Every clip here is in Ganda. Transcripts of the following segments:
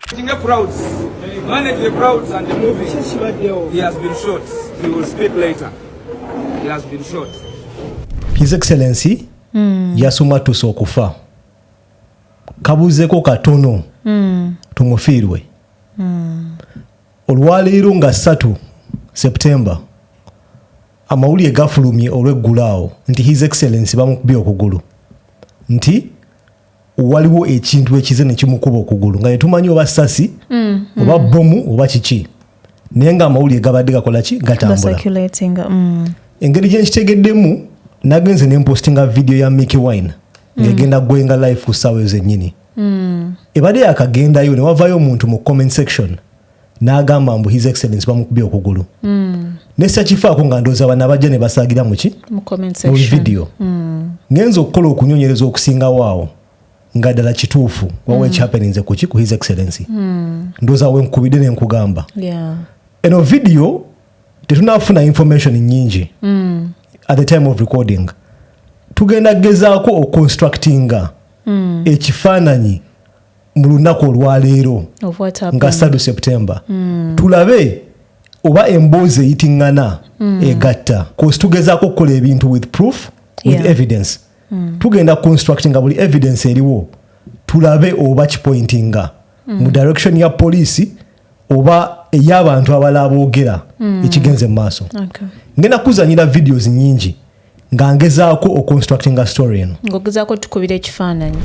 Tinga crowds. Manage the crowds and the movie. He has been shot. He will speak later. He has been shot. His Excellency mm. yasoma tusa okufa kabuzeko katono mm. tumufiirwe mm. olwaleero nga ssatu septemba amawulire gafulumye olweggulo awo nti his excellency bamukubye okugulu nti waliwo ekintu ekize nekimukuba okugulu nga yetumanyi oba sasi mm, mm. oba bomu oba kiki naye nga amawulire gabadde gakolaki gatambula mm. engeri gyenkitegeddemu nagenze nempostinga vidiyo ya micky wine mm. ngegenda mm. gwenga life ku saawa ezenyini mm. ebadde yakagendayo newavayo omuntu mu comment section n'agamba mbu his excellence bamukubye okugulu mm. nesakifaako nga ndooza bana bajja ne basaagira muki mu vidiyo mm. ngenza okukola okunyonyereza okusingawo awo nga ddala kituufu wawa mm. ekihappeninze kuki ku his excellency mm. ndooza wenkubidde ne nkugamba yeah. eno vidiyo tetunafuna information nyingi mm. at the time of recording tugenda gezaako oconstructinga mm. ekifaananyi mu lunaku olwaleero nga sadu septemba mm. tulabe oba emboozi eyitiŋŋana mm. egatta kosi tugezaako okukola ebintu with proof with yeah. evidence mm. tugenda constructinga buli evidence eriwo tulabe oba kipointinga mm. mu direction ya poliisi oba ey'abantu abalala boogera hmm. ekigenze mu maaso ngenda kuzanyira videos nyingi nga ngezaako oconstructinga story eno ngaogezaako tukubira ekifaananyi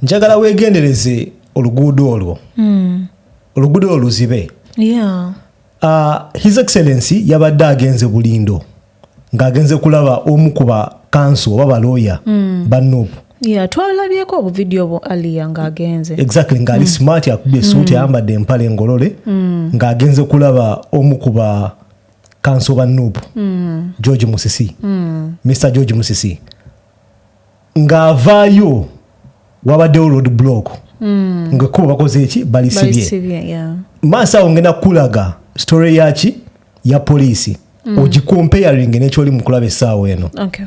njagala weegendereze oluguudo olwo hmm. oluguudo olwo luzibe Uh, his excellency yabadde agenze bulindo ng'agenze kulaba omu ku bakanso oba balooya mm. bannobu yeah, twalabyeko obuvidiyo bwo aliya ng'agenze exactly ng'ali mm. smart akubye esuuti mm. ayambadde empale engolole mm. ng'agenze kulaba omu ku ba kanso bannobu mm. george musisi mm. mr george musisi ng'avaayo wabaddewo road block mm. nga kuba bakoze eki balisibye maaso awo ngenda kukulaga story yaki ya poliisi mm. ogicomparing nekyoli mukulaba essaawa eno okay.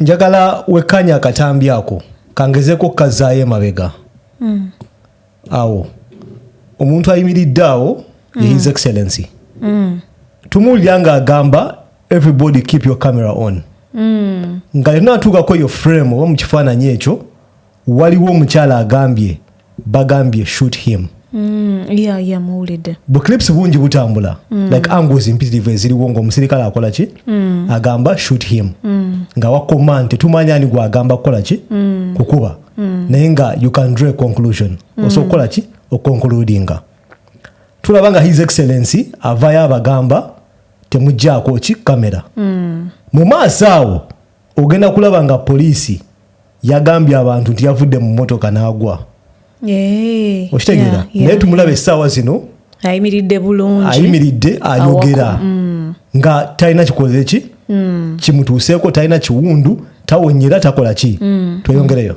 njagala wekkanya akatambi ako kangezeko okukazaayo emabega mm. awo omuntu ayimiridde awo mm. his excellency mm. tumuwulira nga agamba everybody keep your camera on mm. nga yonna atuukako eyo frame oba mu kifaananyi ekyo waliwo omukyala agambye bagambye shoot him mm, yeah, yeah, muwulidde buclips bungi butambula mm. like angles mpitirivu eziriwo ngaomusirikale akola ki mm. agamba shoot him mm. nga wakoma nti tumanya ani gwagamba kukola ki mm. kukuba mm. naye nga you can draw a conclusion mm. osobola kukola ki okonkuludinga tulaba nga his excellency avayo abagamba temugjaako ki kamera mm. mu maaso awo ogenda kulaba nga poliisi yagambye abantu nti yavudde mu motoka n'agwa eh, okitegeera naye tumulaba essaawa zino ayimiridde bulungi ayimiridde ayogera mm. nga talina kikoze ki mm. kimutuuseeko talina kiwundu tawonyera takola ki mm. tweyongereyo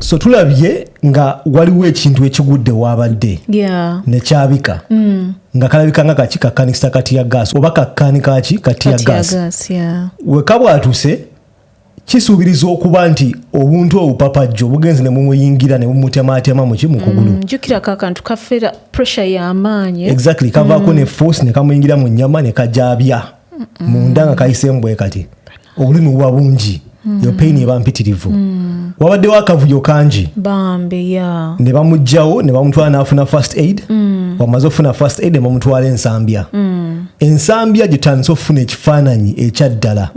so tulabye nga waliwo ekintu ekigudde waabadde yeah. nekyabika mm. nga kalabika nga kaki kakanikisa kati ya gas oba kakani kaki kati ya gas yeah. wekabwatuse kisuubiriza okuba nti obuntu obupapajjo bugenzi ne mumuyingira ne bumutemaatema muki mu kugulu mm, jjukira kakantu kafera pressure y'amaanyi exactly kavaako mm. ne force ne kamuyingira mu nnyama ne kajabya munda nga kayisemu bwe kati obulumi buba bungi yo pain eba mpitirivu wabaddewo akavuyo kangi ne bamugjawo ne bamutwala n'afuna first aid wamaze okufuna first aid ne bamutwala ensambya ensambya gyetandise okufuna ekifaananyi ekyaddala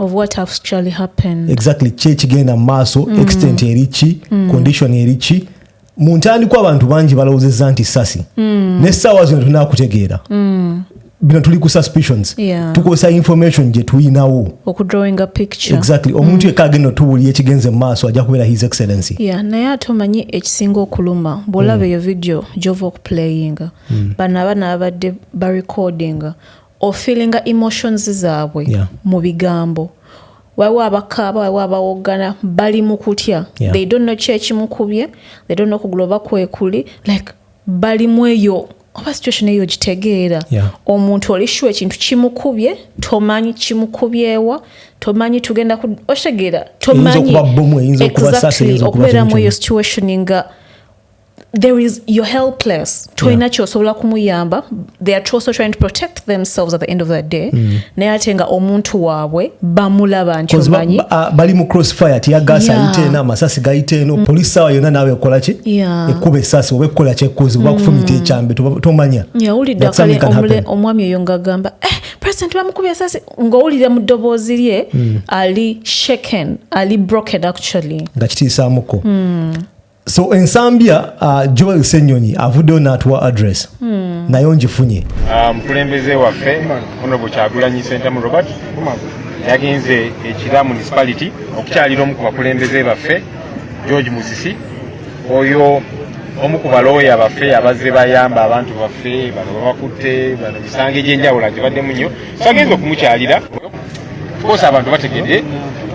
exactly ki ekigenda mu maaso extent eriki condition eriki mu ntandikwa abantu bangi balowozeza nti sasi mm. nesaawa zino tulina kutegeera mm. bino tuli ku suspicions yeah. tukozesa information gyetulinawo exactly omuntu mm. yekka agenda otuwulira ekigenze mu maaso ajja kubeera his excellency yeah, naye ate omanyi ekisinga okuluma bwolaba mm. eyo video gyova okuplayinga mm. bano abana babadde barecordinga ofeelinga emotions zaabwe yeah. mu bigambo waliwo abakaaba waliwo abawoggana bali mu kutya yeah. they don't know kyekimukubye they don't know kugula oba kwekuli like bali mu eyo oba situation eyo ogitegeera yeah. omuntu oli shu ekintu kimukubye tomanyi kimukubyewa tomanyi tugenda okitegeera tomanyi exactly okubeera mu eyo situation nga there is you're helpless tolina yeah. kyosobola kumuyamba they are also trying to protect themselves at the end of the day mm. naye ate nga omuntu waabwe bamulaba nti omanyi uh, bali mu crossfire tiyagaasi yeah. ayite eno amasasi gayite eno mm. polisi sawa yonna naawe ekola ki yeah. ekuba esasi oba ekukola kyekuuzi oba mm. kufumita ekyambe tomanya yawulidde akale omwami oyo ngaagamba eh, president bamukubye esasi ng'owulira mu ddoboozi lye mm. ali shaken ali broken actually nga kitiisaamuko mm. so ensambya uh, joel senyonyi avuddeyo natuwa address hmm. nayo ngifunye uh, mukulembeze waffe honorable kyagulanyi sentamu robert yagenze ekira municipality okukyalira omu ku bakulembeze baffe george musisi oyo omu ku balooya baffe abazze bayamba abantu baffe bano babakutte bano misango egyenjawulo agibaddemu nnyo sagenza okumukyalira kosa abantu bategedde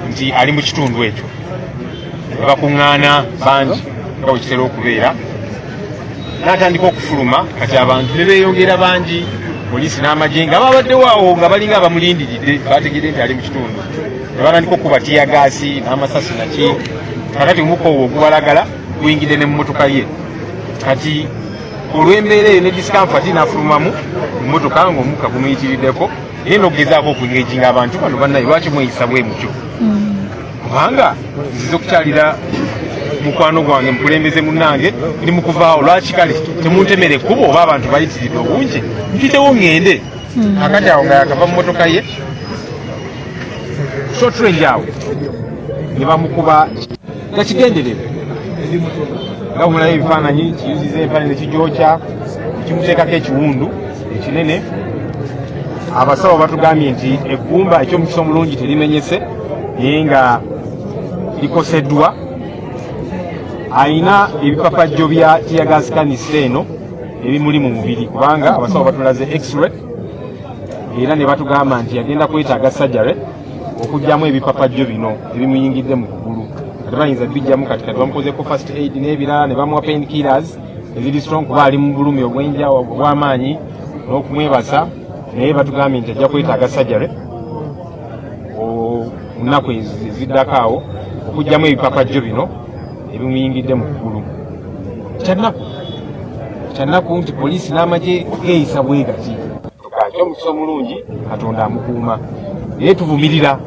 nti ali mu kitundu ekyo bakuŋŋaana bangi nga bwe kitera okubeera n'atandika okufuluma kati abantu ne beeyongera bangi poliisi n'amagye nga babaddewo awo nga balinga abamulindiridde bategedde nti ali mu kitundu ne batandika okukuba tiyagaasi n'amasasi naki kakati omukoowa ogubalagala guyingidde ne mu motoka ye kati olw'embeera eyo ne discomfort nafulumamu mmotoka ng'omukka gumuyitiriddeko naye n'okugezaako okugeejinga abantu bano bannaye lwaki mweyisa bwe mutyo mm. kubanga nziza okukyalira mukwano gwange mukulembeze munnange ndi mukuvaawo lwaki kale temuntemera ekkubo oba abantu bayitiridde obungi mpitewo ŋŋende mm. akati awo nga yakava mu mmotoka ye shotrange awo ne bamukuba nga kigenderere nga bumulayo ebifaananyi kiyuziza empale nekigyokya kimuteekako ekiwundu ekinene abasawo batugambye nti eggumba ekyomukisa omulungi terimenyese naye nga likoseddwa alina ebipapajjo bya tiyagasikanisa eno ebimuli mu mubiri kubanga abasawo batulaze x-ray era ne batugamba nti agenda kwetaaga sajare okujjamu ebipapajjo bino ebimuyingidde mu kugulu ate bayinza bijjamu kati kati bamukozeko first aid n'ebirala ne bamuwa pain killers eziri strong kuba ali mu bulumi obwenja obw'amaanyi n'okumwebasa naye batugambye nti ajja kwetaaga surgery nnaku eziddako awo okugyamu ebipapajjo bino ebimuyingidde mu ggulu kyannaku kyannaku nti poliisi n'amagye geeyisa bwegati Kati omukisa omulungi Katonda amukuuma naye tuvumirira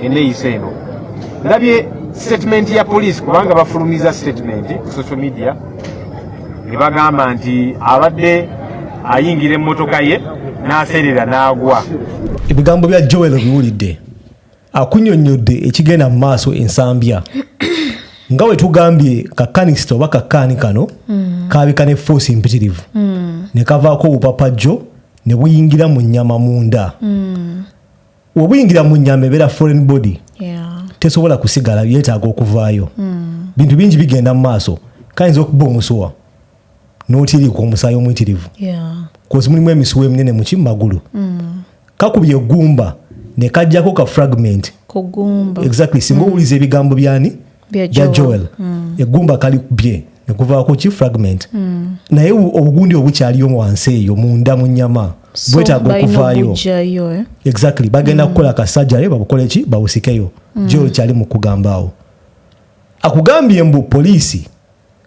eneyisa eno. Ndabye sitetimenti ya poliisi kubanga bafulumiza sitetimenti ku social media ne bagamba nti abadde ayingira emmotoka ye n'aseerera n'agwa. Ebigambo bya Joel obiwulidde? akunyonnyodde ekigenda mu maaso ensambya nga bwe tugambye kakanisita oba kakaani kano mm. kaabika ne foosi empitirivu mm. ne kavaako obupapajjo ne buyingira mu nnyama munda mm. webuyingira mu nnyama ebeera foreign body yeah. tesobola kusigala yeetaaga okuvaayo mm. bintu bingi bigenda mu maaso kayinza okuba omusuwa notirikwa omusaayi omuyitirivu kozi mulimu emisuwa eminene muki mumagulu mm. kakubye egumba nekajjako ka fragment exactly singa mm. owuliza ebigambo byani bya joel mm. egumba kali kubye nekuvaako ki fragment naye obugundi obukyaliyo muwansi eyo munda mu nyama bwetaaga okuvaayo eh? exactly bagenda kukola kasajare babukoleki babusikeyo joel kyali mukugambaawo akugambye mbu poliisi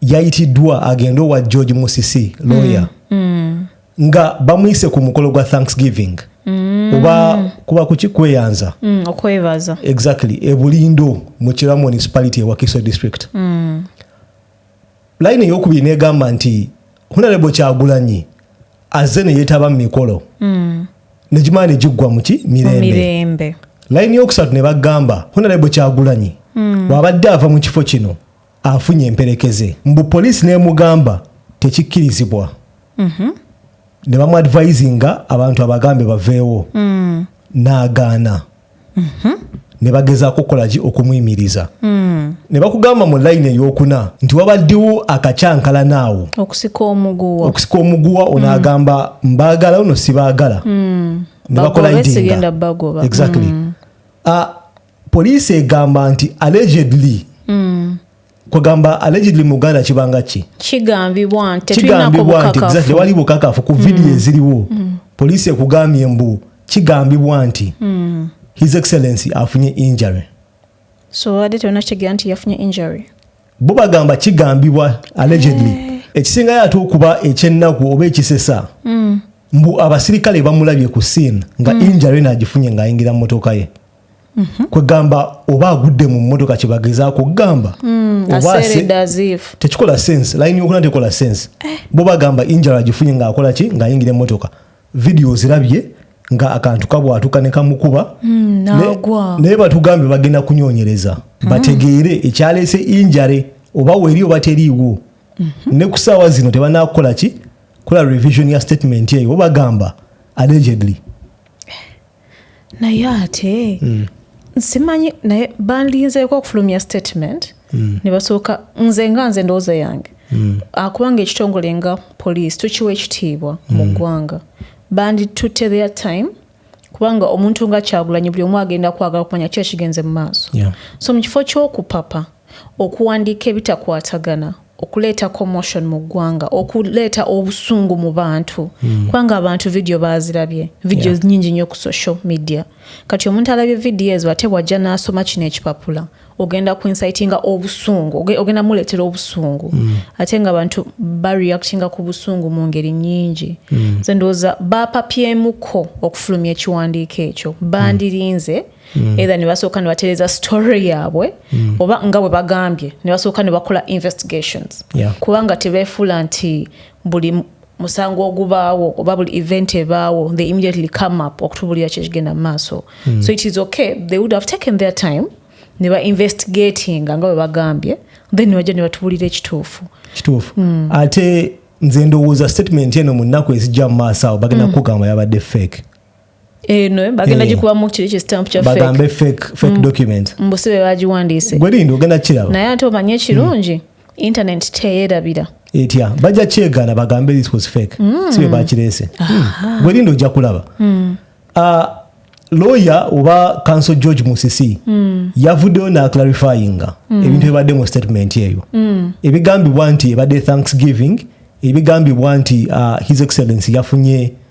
yayitiddwa agende owa george musisi lawyer mm. Mm. nga bamuyise ku mukolo gwa thanksgiving mm. oba kuba kuki kweyanza mm, okwebaza exactly ebulindo mu kira municipality ewa kiso district mm. line eyokubiri negamba nti hunalebo kyagulanyi aze neyetaba mu mikolo mm. negimala negiggwa muki mirembe line yokusatu nebagamba hunalebo kyagulanyi mm. wabadde ava mu kifo kino afunye emperekeze mbu poliisi nemugamba tekikkirizibwa mhm. ne bamu advisinga abantu abagambe baveewo mm. n'agaana mhm. ne bagezaako okukolaki okumuyimiriza mm. ne bakugamba mu layini eyokuna nti wabaddewo akakyankalana awo okusika omuguwa okusika omuguwa mm. onaagamba mbaagala ono sibaagala ne bakolaidinga exactly ah, Poliisi egamba nti allegedly mm. kwegamba allegedly mu Uganda kibanga ki kigambibwa nti tewali bukakafu ku vidiyo mm. eziriwo mm. poliisi ekugambye mbu kigambibwa nti mm. his excellency afunye injury so wadde tenakitegera nti yafunye injury bo bagamba kigambibwa allegedly eh. ekisingayo ate okuba ekyennaku oba ekisesa mm. mbu abasirikale bamulabye ku sin nga mm. injury nagifunye ng'ayingira mu motoka ye Mhm. kwegamba oba agudde mu mmotoka kyebagezaako okugamba hmm, tekikola sense layini yokuna tekola sense eh. bo bagamba injala agifunye ngaakola ki ngaayingira emmotoka vidiyo zirabye nga akantu kabwatuka nekamukuba hmm, naye batugambye bagenda kunyonyereza hmm. bategeere ekyaleese injare oba weri oba teriiwo mhm. ne ku saawa zino tebanakukola ki kola revision ya statement eyo bo bagamba allegedly naye ate mm. simanyi naye banlinzeeko okufulumya statement mm. ne basooka nze nga nze ndowooza yange mm. akubanga ah, ekitongole nga poliisi tukiwa ekitiibwa mu mm. ggwanga banditutte their time kubanga omuntu nga kyagulanyi buli omu agenda kwagala okumanya ki ekigenze mu maaso yeah. so mu kifo ky'okupapa okuwandiika ebitakwatagana okuleeta commotion mu ggwanga okuleeta obusungu mu bantu mm. kubanga abantu vidiyo baazirabye vidiyo yeah. nyingi nnyo ku social media kati omuntu alabye vidiyo ezo ate wajja n'asoma kino ekipapula ogenda ku insitinga obusungu ogenda muleetera obusungu mm. ate nga abantu bareactinga ku busungu mu ngeri nyingi mm. ze ndowooza bapapyemuko okufulumya ekiwandiiko ekyo bandirinze mm. mm. either nebasooka nebatereza story yaabwe mm. oba nga bwe bagambye nebasooka nebakola investigations yeah. kubanga tebefuula nti buli musango ogubaawo oba buli event ebaawo they immediately come up okutubulira kyekigenda mu maaso mm. so it is okay they would have taken their time ne ba investigatinga nga bwe bagambye then nebajja ne batubulira ekituufu kituufu mm. ate nze ndowooza statement eno mu nnaku ezijja mu maaso awo bagenda mm. kugamba yabadde fake eno eh, bagenda eh. gikubamu kiri ki stamp kya bagambe fake fake mm. document mbu si be bagiwandiise gwerinda ogenda kiraba naye ate omanye mm. ekirungi internet teyerabira etya bajja kyegana bagambe this was fake mm. si be bakireese gwerinda ojja kulaba ah, lawyer oba council george musisi mm. yavuddeyo naclarifyinga mm. ebintu ebibadde mu statement eyo mm. ebigambibwa nti ebadde thanksgiving ebigambibwa nti uh, his excellency yafunye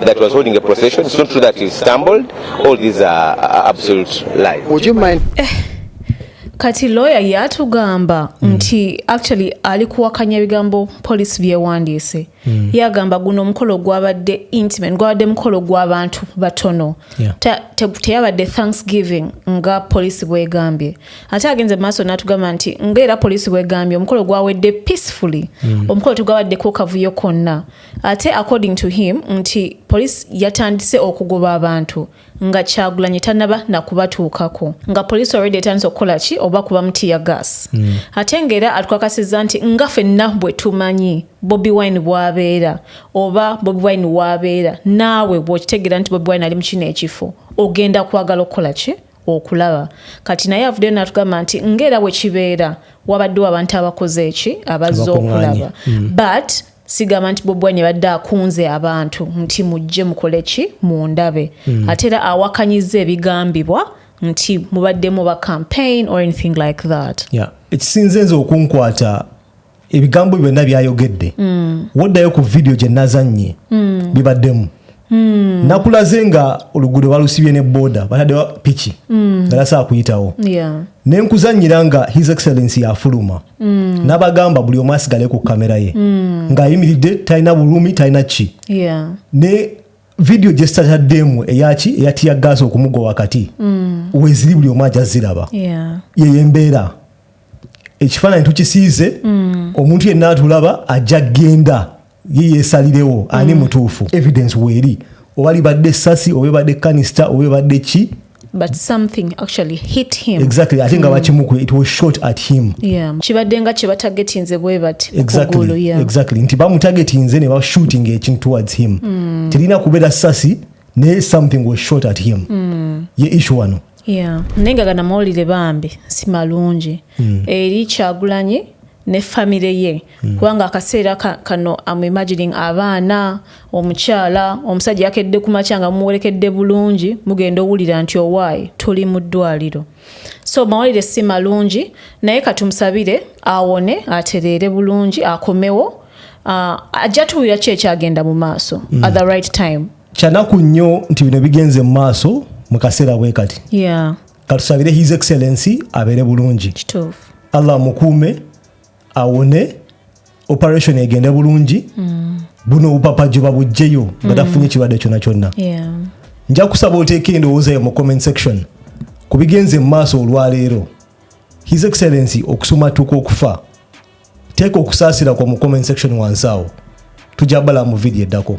that was holding a procession. It's not true that he stumbled. All these are absolute lies. Would you mind? Eh, kati lawyer yatugamba mm. nti actually ali kuwakanya ebigambo police byewandiise mm. yagamba guno omukolo gwabadde intimate gwabadde mukolo gw'abantu batono yeah. teyabadde te, te thanksgiving nga police bwegambye ate agenze maaso natugamba nti ngaera police bwegambye omukolo gwawedde peacefully mm. omukolo tegwabaddeko kavuyo konna Ate according to him nti police yatandise okugoba abantu nga kyagulanyi tanaba nakubatuukako nga police already etandise okukola ki oba kuba mutiya gas mm. ate nga era atukakasiza nti nga fenna bwe tumanyi bobi wine bwabeera oba bobi wine wabeera naawe bwokitegeera nti bobi wine ali mukino ekifo ogenda kwagala okukola ki okulaba kati naye avuddeyo natugamba nti ngaera bwekibeera wabaddewo abantu abakoze eki abazze okulaba mm. but sigamba nti bobi wine yabadde akunze abantu nti mujje mukole ki mundabe mm. ate era awakanyiza ebigambibwa nti mubaddemu ba campaign or anything like that yeah. ekisinze nze okunkwata ebigambo byonna byayogedde mm. woddayo ku vidiyo gye nazannye mm. bibaddemu Hmm. nakulaze nga oluguudo balusibye ne boda batadewa piki hmm. nga nasaa kuyitawo nenkuzanyira nga his excellence yafuluma hmm. nabagamba buli omu asigale ku kamera ye ngaayimiridde talina bulumi talina ki ne vidiyo gyesitataddemu eyaki eyatiya gaasi okumugwa wakati weziri buli omu aja ziraba yeyo embeera ekifaananyi tukisiize omuntu yenna atulaba ajja genda ye yesalirewo ani mm. mutuufu evidence weeri oba libadde essasi oba ebadde kanista oba ebadde ki but something actually hit him exactly ate nga mm. bakimukuba it was shot at him kibadde nga kye batagetinze bwe bati exactly nti bamutagetinze ne bashooting ekintu towards him mm. terina kubeera sasi naye something was shot at him mm. ye ishu wano naye nga ganamawulire bambi si malungi eri kyagulanyi ne famire ye Hmm. kubanga akaseera kano am imagining abaana omukyala omusajja yakedde kumakya nga mumuwerekedde bulungi mugenda owulira nti owaayi tuli mu ddwaliro so mawulire si malungi naye katumusabire awone atereere bulungi akomewo ah, ajja tuwulira ki ekyagenda mu maaso hmm. at the right time kyanaku nnyo nti bino bigenze mu maaso mu kaseera bwe kati katusabire his excellency abeere bulungi allah mukuume awone operation egende bulungi mm. buno obupapa gyoba bujjeyo nga mm. tafunye ekirwadde kyona kyonna nja kusaba oteeka endowooza yo mu comment section ku bigenze mu maaso olwaleero his excellency okusumatuka okufa teeka okusaasira kwa mu comment section wansi awo tujja bala mu vidiyo eddako